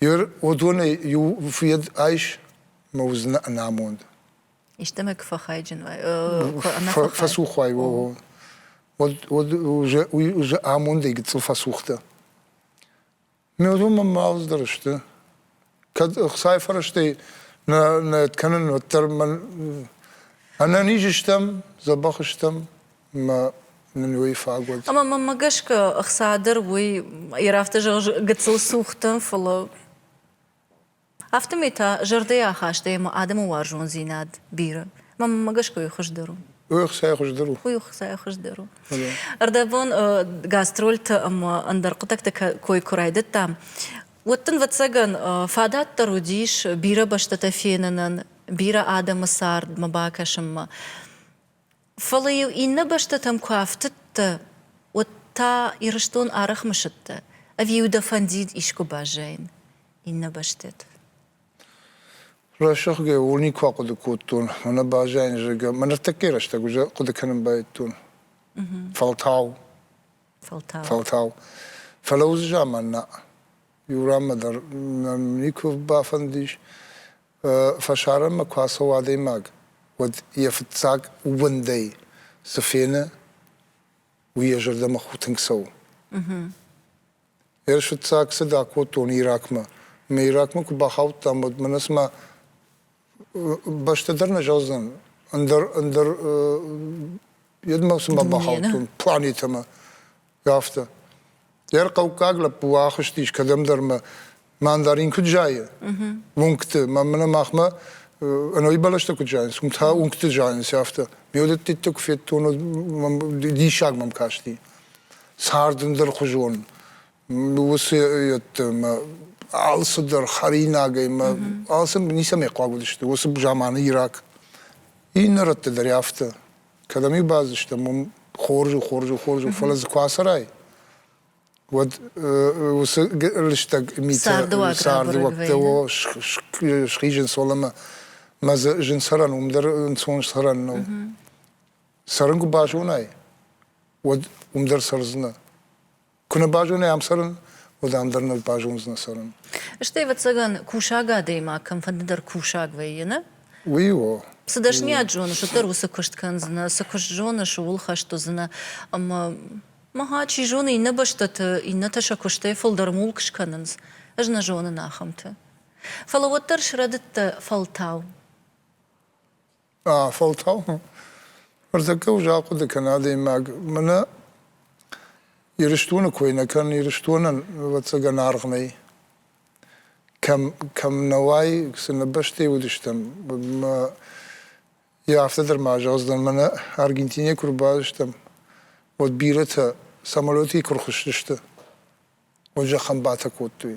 Ер уыдонӕй иу фыд айс мӕ уыдзынӕ ӕнамонд. Истӕмӕ куы фӕхайджын уай, фӕцух уай, о. Уӕд уже уый уже амондӕй гыццыл фӕцухдӕ. Ме уыдон мӕлдздӕр сты. Кӕд Хуыцай фӕрӕзтӕй нӕ нӕ кӕнын, уӕддӕр мӕн ӕнӕниз стӕм, дзӕбӕх стӕм. мӕ нын уый фаг уыд. Ӕмӕ мӕнмӕ гӕсгӕ ӕхца дӕр уый йӕ афтӕ зӕгъы гыццыл цухтӕн, фӕлӕ афтӕмӕй та зӕрдӕйы ахаст ӕмӕ адӕмы уарзондзинад бирӕ. Мӕнмӕ гӕсгӕ уый хуыздӕр у. Уый ӕхцайы хуыздӕр у. Уый ӕхцайы хуыздӕр у. Ӕрдӕбон гастрольты ӕмӕ ӕндӕр хъуыддӕгты кой куы райдыдтам, уӕд дын, ӕвӕццӕгӕн, фадат дӕр уыдис бирӕ бӕстӕтӕ фенынӕн, бирӕ адӕмы цардмӕ бакӕсынмӕ. Фӕлӕ-иу иннӕ бӕстӕтӕм куы афтыдтӕ, уӕд та Ирыстон ӕрӕхмысыдтӕ, ӕви дӕ фӕндид искуы баззайын иннӕ бӕстӕты? Рӕсугъдгӕй ууыл никуы ахъуыды кодтон, мӕнӕ баззайын, зӕгъгӕ. Мӕ ныртӕккӕйы рӕстӕг уый хъуыды кӕнын байдыдтон. Фӕлтау. Фӕлтау. Фӕлтау. Фӕлӕ уыцы заман нӕ иу ранмӕ дӕр нӕм никуы бафӕндис фӕсарӕнмӕ куы ацӕуы адӕймаг, уӕд йӕ фыццаг уӕндӕй цы фены, уый йӕ зӕрдӕмӕ ху тынг цӕуы. Ӕрс фыццаг цыд акодтон Иракмӕ. Мӕ Иракмӕ куы бахаудтам, уӕд мӕнӕ цыма бӕстӕ дӕр нӕ зӕгъдзӕн, ӕндӕр, ӕндӕр, йедмӕ цыма бахаудтон планетӕмӕ. Афтӕ. Йӕ хъӕуккаг лӕппу ахызтис кӕдӕмдӕрмӕ, мӕн дӕр ин куыд зайы, уынгты, мӕ мӕнӕ махмӕ ӕнӕуи бӕлӕстӕ куыд зайынц, уым та уынгты зайынц, афтӕ. Ме уыдӕттӕ куы федтон, диссаг мӕм касти. Цард ӕндӕрхуызон. Уыцы мӕ алцыдӕр хӕринагӕй, мӕ алцы ницӕмӕй хъуаг уыдысты уыцы заманы Ирак. Иннӕ рӕтты дӕр афтӕ. Кӕдӕм иу бадзыстӕм, уым хорз у, хорз у, хорз у, фӕлӕ дзы куы ацӕрай, уӕд уыцы лыстӕг митӕ цардыуӕгтӕ схизынц, уӕлӕмӕ мӕ дзы зынцӕрӕн уым дӕр ӕнцон цӕрӕн нӕу. Цӕрын куы базонай, уӕд уым дӕр цӕрдзынӕ. Куы нӕ базонай ам цӕрын, уӕд ам дӕр нӕ базондзынӕ цӕрын. Стӕй, ӕвӕццӕгӕн, кусӕг адӕймаг кӕмфӕндыдӕр кусӕг вӕййы, нӕ? Уый у. Цы дӕсныйад зоныс, уӕддӕр уыцы куыст кӕндзынӕ, цы куыст зоныс, ууыл хӕст уыдзынӕ. Ӕмӕ мӕ чи зоны, иннӕ бӕстӕты иннӕтӕ сӕ куыстӕй фылдӕр мулк скӕнынц. Ӕз нӕ зонын ахӕмты. Фӕлӕ уӕддӕр срӕдыдтӕ фӕлтау. Фӕлтау ӕрдзӕггӕ ус ахъуыды кӕна адӕймаг, мӕнӕ Ирыстоны кой нӕ кӕн, Ирыстонӕн ӕвӕццӕгӕн аргъ нӕй. Кӕм, кӕм нӕ уай, цынӕ бӕстӕйы уыдыстӕм, мӕ йӕ афтӕ дӕр ма зӕгъдзынӕн, мӕнӕ Аргентинӕйы куы рбадыстӕм, уӕд бирӕтӕ самолетӕй куы рхызтысты, уӕд зӕххӕн батӕ кодтой.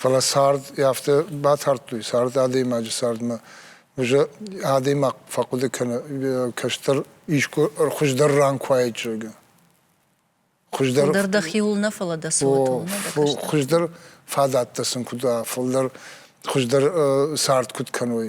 Фӕлӕ цард афтӕ батардтой, цард адӕймаджы цардмӕ. Адӕймаг фӕхъуыды кӕны, кӕстӕр искуы хуыздӕр ран куы уаид, зӕгъгӕ. Хуыздӕр дӕхиуыл нӕ, фӕлӕ дӕ цоратыл нӕ. Хуыздӕр фадӕттӕ сын куыд уа, фылдӕр хуыздӕр цард куыд кӕной.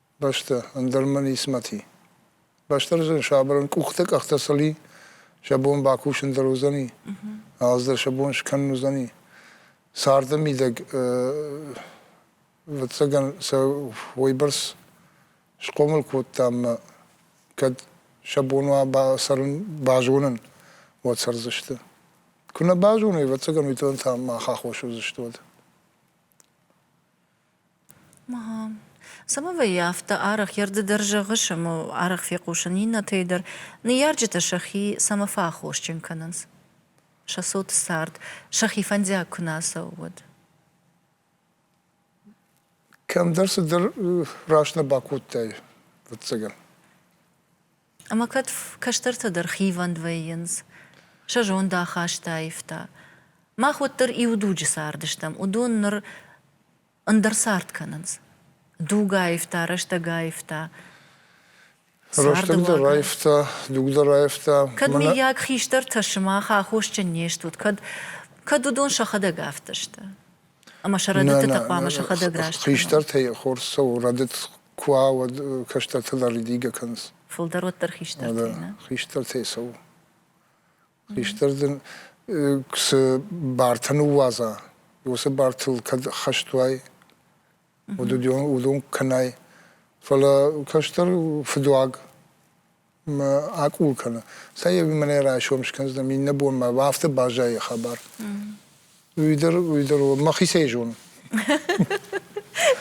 бӕстӕ, ӕндӕр мӕ нисмӕти. Бӕстӕрдзон сабырӕн къухтӕ къӕхтӕ сӕли, сӕ бон бакусын дӕр уыдзӕни, ӕз дӕр сӕ бон скӕнын уыдзӕни. Царды мидӕг ӕвӕццӕгӕн сӕ уойбӕрц схъомыл кодтам мӕ кӕд сӕ бон уа бацӕрын, базонын, уӕд цӕрдзысты. Куы нӕ базоной, ӕвӕццӕгӕн уый та мах аххос уыдзысты уӕд. Самовӕййы афтӕ арӕх йӕ рды дӕр зӕгъыс ӕмӕ арӕх фехъусын иннӕтӕй дӕр. Ныййарджытӕ сӕхи цӕмӕ фӕаххосджын кӕнынц? Сӕ цот цард сӕхи фӕндиаг куы нӕ ацӕуы, уӕд? Кӕмдӕр цыдӕр раст нӕ бакодтай, ӕвӕццӕгӕн. Ӕмӕ кӕд кӕстӕртӕ дӕр хивӕнд вӕййынц, сӕ зондахаст аивта. Мах уӕддӕр иу дуджы цардыстӕм, уыдон ныр ӕндӕр цард кӕнынц. Дуг аивта, рӕстӕг аивта. Рӕстӕг дӕр аивта, дуг дӕр аивта. Кӕд, Мӕнӕ... миййаг, хистӕртӕ сымах аххосджын не стут, кӕд, кӕд уыдон сӕхӕдӕг афтӕ сты? Ӕмӕ сӕ рӕдыдтытӕ хъуамӕ сӕхӕдӕг раст кӕной. Хистӕртӕй хорз цӕуы рӕдыд Куы уа, уӕд кӕстӕртӕ дӕр ридигӕ кӕнынц. Фылдӕр уӕддӕр хистӕртӕй, нӕ? Хистӕртӕй цӕуы. Хистӕр дын цы бартӕ ныууадза, уыцы бартыл кӕд хӕст уай, уыд уыдон кӕнай. Фӕлӕ кӕстӕр фыдуаг акъул кӕны. Цӕй, ӕви мӕнӕ райсом скӕндзынӕм иннӕ бонмӕ, афтӕ баззайы хабар. Уый дӕр, уый дӕр мӕхицӕй зонын.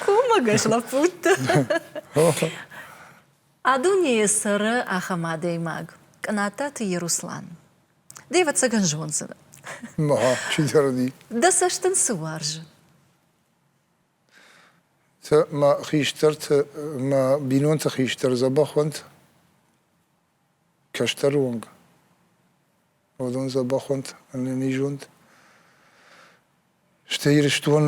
Кумӕгӕс лӕппутты. А дунейы цӕры ахӕм адӕймаг, Кънаттаты Еруслан. Ды ӕвӕццӕгӕн зондзынӕ. Мӕ, чидӕр ди. Дӕ цӕст ын цы уарзы? Мӕ хистӕрты, мӕ бинонты хистӕр дзӕбӕх уӕнт кӕстӕры онг. Уыдон дзӕбӕх уӕнт, ӕнӕнизонд. Стӕй Ирыстон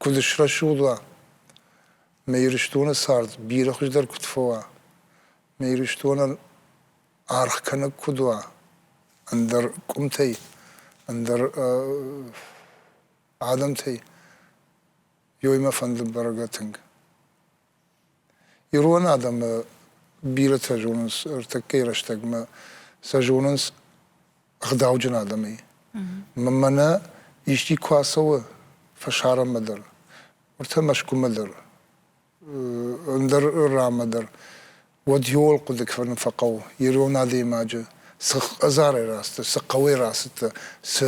куыд срӕсугъд уа, мӕ Ирыстоны цард бирӕ хуыздӕр куыд фӕуа, мӕ Ирыстонӕн аргъ кӕнӕг куыд уа, ӕндӕр къуымтӕй, ӕндӕр адӕмтӕй, ёй мӕ фӕнды бӕргӕ тынг. Ирон адӕмы бирӕтӕ зонынц ӕртӕккӕйы рӕстӕгмӕ сӕ зонынц ӕгъдауджын адӕмӕй. Мӕнӕ исчи куы ацӕуы фӕсарӕнмӕ дӕр, уӕд та Мӕскуымӕ дӕр, ӕндӕр ранмӕ дӕр, уӕд иууыл хъуыды кӕнын фӕхъӕуы ирон адӕймаджы цы хӕдзарӕй рацыдтӕ, цы хъӕуӕй рацыдтӕ, цы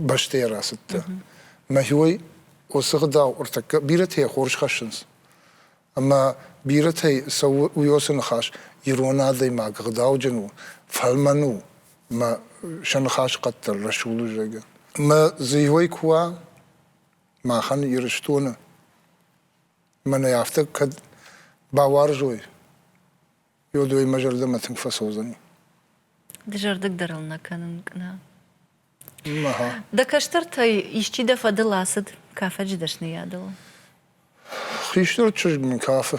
бӕстӕйӕ рацыдтӕ. Мӕхиой уыцы гъдау ӕртӕккӕ бирӕтӕй хорз хӕссынц. Ӕмӕ бирӕтӕй цӕуы уыйосы ныхас, ирон адӕймаг гъдауджын у, фӕлмӕн у, мӕ сӕ ныхас къаддӕр рӕсугъд у, зӕгъгӕ. Мӕ зыйой куы уа, махӕн Ирыстоны мӕнӕ афтӕ кӕд бауарзой, уӕд уый мӕ зӕрдӕмӕ тынг фӕцӕудзӕни. Дызӕрдыг дӕр ыл нӕ кӕнын кӕна. Дӕ кӕстӕртӕй исчи дӕ фӕдыл ацыд кафӕджы дӕсныйадыл? Хистӕр чызг мын кафы.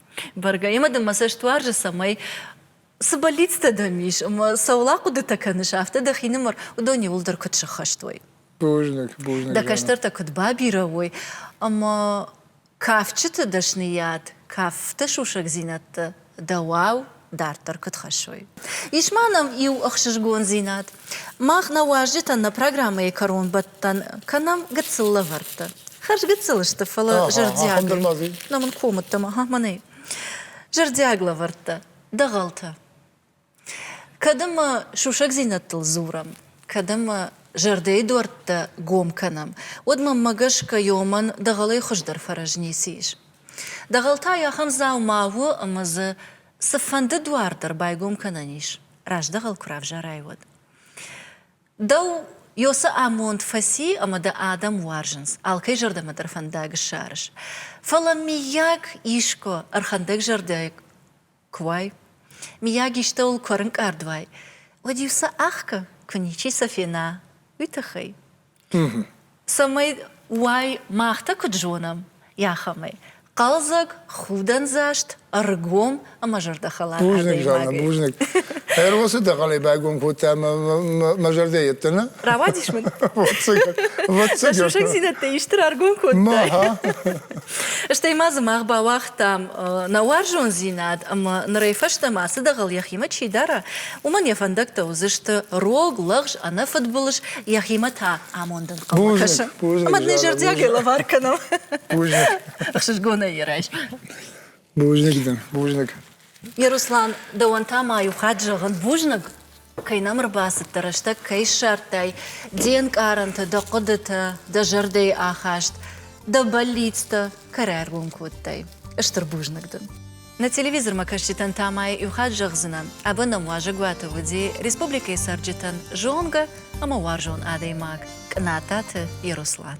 Бӕргӕ имӕ дын мӕ цӕст уарзы, цӕмӕй цы бӕллицтӕ дӕм ис ӕмӕ цӕуыл ахъуыдытӕ кӕныс, афтӕ дӕхинымӕр уыдон иууылдӕр куыд сыххӕст уой. Бузныг, бузныг. Дӕ кӕстӕртӕ куыд бабирӕ уой ӕмӕ кафджыты дӕсныйад, кафты сусӕгдзинӕдтӕ дӕуау дарддӕр куыд хӕссой. Ис ма нӕм иу ӕхсызгондзинад. Мах нӕ уазджытӕн нӕ программӕйы кӕронбӕттӕн кӕнӕм гыццыл лӕвӕрттӕ. Хӕрз гыццыл сты, фӕлӕ зӕрдиаг. Нӕ мын комыдтӕм, ага, мӕнӕй. Зӕрдиаг лӕвӕрттӕ, дӕгъӕлтӕ. Кӕд ӕмӕ сусӕгдзинӕдтыл дзурӕм, кӕд ӕмӕ зӕрдӕйы дуӕрттӕ гом кӕнӕм, уӕд мӕнмӕ гӕсгӕ, ёмӕн дӕгъӕлӕй хуыздӕр фӕрӕз ницы ис. Дӕгъӕл та ахӕм дзаума у, ӕмӕ дзы цыфӕнды дуар дӕр байгом кӕнӕн ис, раздӕгъӕл куы равзарай, уӕд. Дӕу Ёсы амонд фӕци ӕмӕ дӕ адӕм уарзынц, алкӕй зӕрдӕмӕ дӕр фӕндаг ссарыс. Фӕлӕ, миййаг, искуы ӕрхӕндӕгзӕрдӕ Куы уай, мийаг истӕуыл куы ӕрынкъард уай, уӕд-иу сӕ ӕхгӕ, куы ничи сӕ фена, уый тыххӕй. Цӕмӕй уай, мах та куыд зонӕм, ахӕмӕй, хъӕлдзӕг, худӕндзаст, ӕргом ӕмӕ зӕрдӕхӕлар Бузныг, Жанна, адӕймагӕй. бузныг. Ӕрвылсы дӕхъӕлӕй байгом кодтай мӕ мӕ- мӕ зӕрдӕ йеддӕмӕ? Рауадис мын? Ӕвӕццӕгӕн. Ӕвӕццӕгӕн. Сусӕгдзинӕдтӕ исты раргом кодтай? Ма, ха. Стӕй ма дзы мах бауагъ дам нӕ уарзондзинад ӕмӕ нырӕй фӕстӕмӕ ацы дӕгъӕл йӕхимӕ чи дара, уымӕн йӕ фӕндӕгтӕ уыдзысты рог, лӕгъз, ӕнӕфыдбылыз, йӕхимӕ та амондӕн хъӕуы кӕсын. Ӕмӕ нын зӕрдиагӕй лӕвар кӕнӕм. Ӕхсызгонӕй йӕ райс. Бузныг дӕн, бузныг. Руслан, дӕуӕн та ма иу хатт зӕгъын, бузныг, кӕй нӕм ӕрбацыдтӕ, рӕстӕг кӕй ссардтай, де нкъарӕнтӕ, дӕ хъуыдытӕ, дӕ зӕрдӕйы ахаст, дӕ бӕллицтӕ кӕрӕ ӕргом кодтай. Стыр бузныг дын. Нӕ телевизормӕ кӕсджытӕн та ма иу хатт зӕгъдзынӕн, ӕбӕнӕн уазӕгуаты уыди республикӕйы цӕрджытӕн зонгӕ ӕмӕ уарзон адӕймаг Кънататы Еруслан.